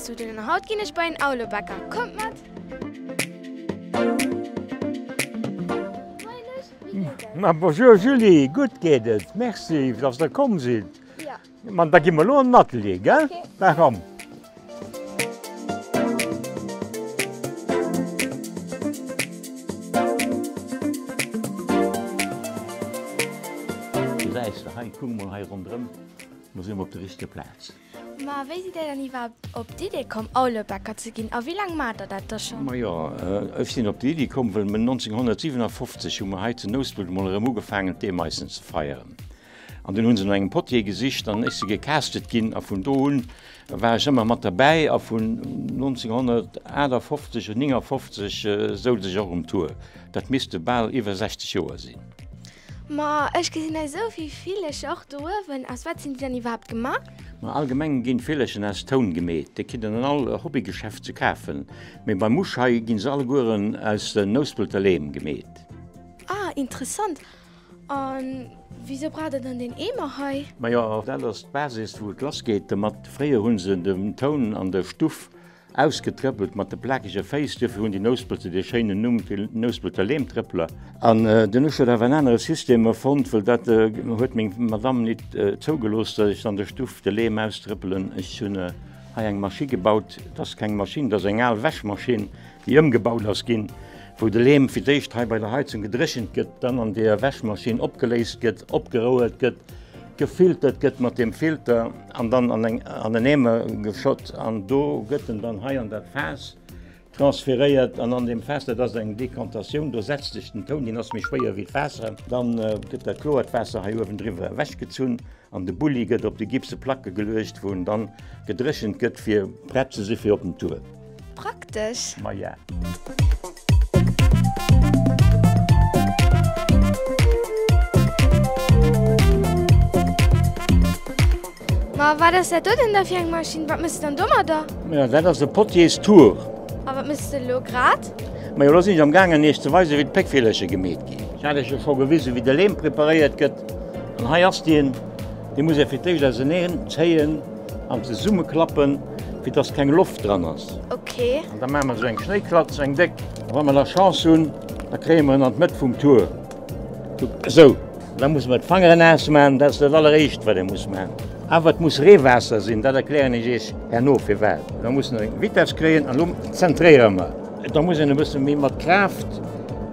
Zu den haut ginn ech bei en Aulebäcker. Kommt mat! Ma bonjour Julie, gutt geet et, merci dass der komm sidd. Ma da gi mer elo an den Atelier, gell? Da komm! Gesäis de hei, kuck emol hei ronderëm, mer sinn op der richtege Plaz. Ma wéi sidd Dir dann iwwerhaapt op d'Idee komm, Aulebäcker ze ginn? A wéi laang maacht Dir dat da schonn? Majo, ech sinn op déi Iddi komm, wëll mer 1957 hu mer hei zu Nouspelt emol erëm ugefaangen d'Eemaissen ze feieren. An dunn hu se no engem Potier gesicht an ech si gecastet ginn a vun do un war ech ëmmer mat derbäi a vun 1958 oder 59 souz ech och um Tour. Dat misste bal iwwer 60 Joer sinn. Ma ech gesinn hei esou vill Villecher och do uewen. Aus wat sinn déi dann iwwerhaapt gemaach? Ma allgemeng ginn d'Villerchen aus Toun gemeet. Déi kritt een an all Hobbygeschäft ze kafen. Mee beim Usch hei ginn se allegueren aus den Nouspelter Leem gemeet. Ah, interessant. A wisou braucht der dann deen Eemer hei? Majo, dat ass d'Basis wou et lass geet domat. Fréier hu se dem Toun an der Stuff Ausgetrëppelt mat de plakege Féiss, duerfir hunn déi Nouspelter dee schéinen Numm fir Nouspelter Leemtrëppeler. An dunn hu ech huet awer en anere System erfonnt, wëll dat huet meng Madamm nit zougelooss, datt ech an der Stuff de Leem austrëppelen. Ech hunn hei eng Maschi gebaut, et ass keng Maschinn, et ass eng al Wäschmaschinn, déi ëmgebaut ass ginn. Wou de Leem fir d'éischt hei bei der Heizung gedréchent gëtt, dann an der Wäschmaschinn opgeléist gëtt, opgerouelt gëtt, gefiltert gëtt mat deem Filter an dann an eng an en Eemer geschott an do gëtt en dann hei an dat Faass transferéiert an an deem Faass, dat ass eng Decantatioun, do setzt sech den Toun, deen ass méi schwéier wéi d'Waasser, dann gëtt dat kloert Waasser hei uewendriwwer ewechgezunn an de Bulli gëtt op déi gipse Placke geluecht, wou en dann gedréchent gëtt fir prett ze si fir op den Tour. Praktesch! Ma ja. Ma wat ass dat do denn da fir eng Maschinn? Wat mëss de dann domadder? Ma ja, dat ass e Potiers Tour. A wat mëss de elo grad? Ma jo, elo sinn ech am gaangen iech ze weisen, wéi d'Péckvillerche gemeet ginn. Ech hat iech jo scho gewisen, wéi de Leem preparéiert gëtt. An hei ass deen. Dee muss ee fir d'éischt auseneen zéien. An zesumme klappen fir dass keng Loft dran ass. Ok. An da maache mer esou eng Schnéiklatz, eng déck. A wa mer da Chance hunn, da kréie mer en an d'Mëtt vum Tour. Kuck esou. Da muss mer d'Fanger naass maachen, dat ass dat Alleréischt wat ee muss maachen. Awer et muss Reewaasser sinn, dat erklären ech iech herno firwat. Da muss en Vitess kréien an lo zentréiere mer. Da muss een e bësse méi mat Kraaft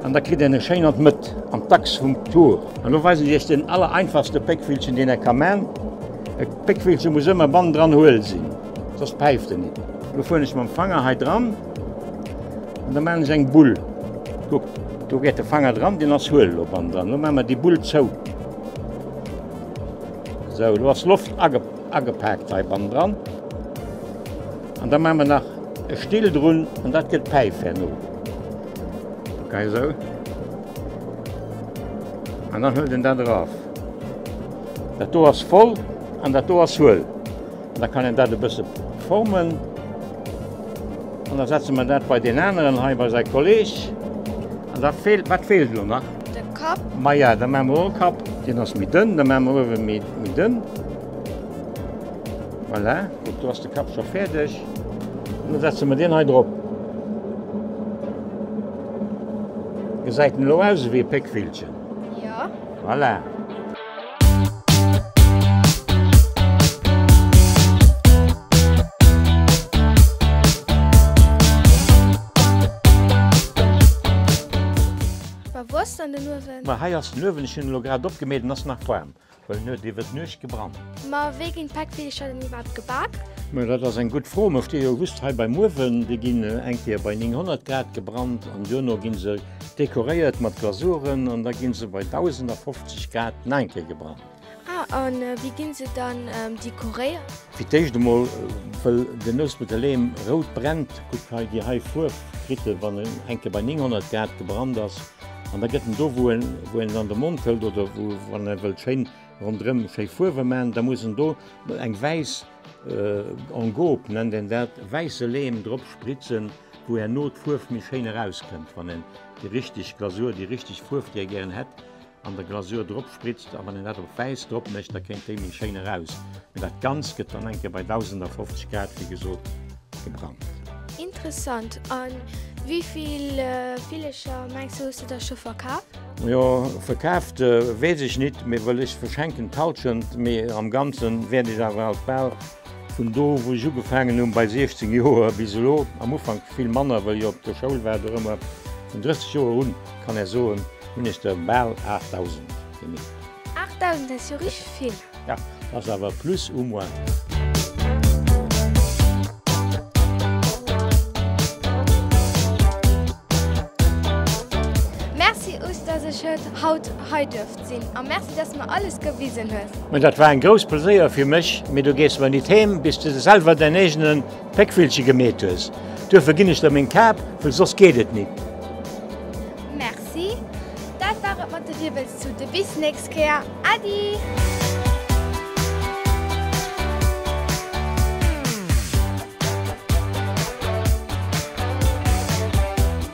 an da kritt een e schéin an d'Mëtt, an d'Achs vum Tour. An lo weisen ech iech den allereinfachste Péckvillchen, deen ee ka maachen. Péckvillchen muss ëmmer bann dran huel sinn, soss päift en nit. Lo fueren ech mam Fanger hei dran an da maan ech eng Bull. Kuck, do gét de Fanger dran, deen ass huel. Lo bann dran, lo maan mer déi Bull zou. Sou, lo ass Loft agepaakt hei bann dran an da maan mer nach e Still drun an dat get d'Päif herno. Kuck hei sou an dann huelt en dat eraf. Dat do ass voll an dat do ass huel. Da kann een dat e bësse formen. An da setze mer dat bei deen aneren hei, bei säi Kolleg. An da feelt, wat feelt elo nach? De Kapp. Maja, da maache mer och e Kapp. Deen ass méi dënn, da maache mer uewen méi, méi dënn. Voilà, kuck, do ass de Kapp scho fäerdeg. An da setze mer deen hei drop. Gesäit en elo aus ewéi e Péckvillchen? Voilà. Hei ass den Uewen, ech hunn e lo grad opgemeet, en ass nach waarm. Well net iwwer d'Nuecht gebrannt. Ma wéi ginn d'Päckvillecher dann iwwerhaapt gebak? Ma dat ass eng gutt Fro. Mer sti jo just hei beim Uewen. Déi ginn eng Kéier bei 900 Grad gebrannt an duerno gi se dekoréiert mat Glasuren an da gi se bei 1050 Grad nach eng Kéier gebrannt. Ah, a wéi ginn se dann dekoréiert? Fir d'éischt emol, wëll den Nouspelter Leem rout brennt, gutt hei déi hei Fuerf kritt e wann en eng Kéier bei 900 Grad gebrannt ass. An da gëtt en do, wou en, wou en an de Mond hëlt oder wou, wann e wëllt schéin ronderëm schéi Fuerwe maachen, da muss en do eng wäiss, en gobe nennt een dat, wäisse Lehm drop spritzen, wou herno d'Fuerf méi schéin erauskënnt, wann en déi richteg Glasur, déi richteg Fuerf, déi e gären hätt, an der Glasur drop. spritzt a wann een dat op wäiss drop mécht da kéint déi méi schéin eraus, mee dat ganzt gëtt dann enke bei 1050 Grad wéi gesot gebrannt. Interessant, an wivill Villecher mengs du hues du der scho verkaf? Jo verkaaft wees ech nit, mee wëll ech verschenken d'Halschent, mee am ganzen wäert ech awer alsbal Vun do wou ech ugefaangen hunn, bei 16 Joer, bis elo, am Ufank vill manner, wëll ech op der Schoul war, do rëmmer vun 30 Joer un, kann ech soen, hunn ech der bal 8.000 gemeet. 8.000 ass jo richteg vill. Jo, ass awer plus ou moins. Merci us, dass ech haut hei duerft. Gast sinn a merci dass mer alles gewisen hues. Mä dat war eng grouss Pleséier fir mech, mee du gees mer nit heem bis du de selwer däin eegene Péckvillche gemeet hues. Duerfir ginn ech der meng Kap, wëll soss geet et nit. Merci, dat war et mat de Wirbelstute, bis nächst Kéier, Äddi!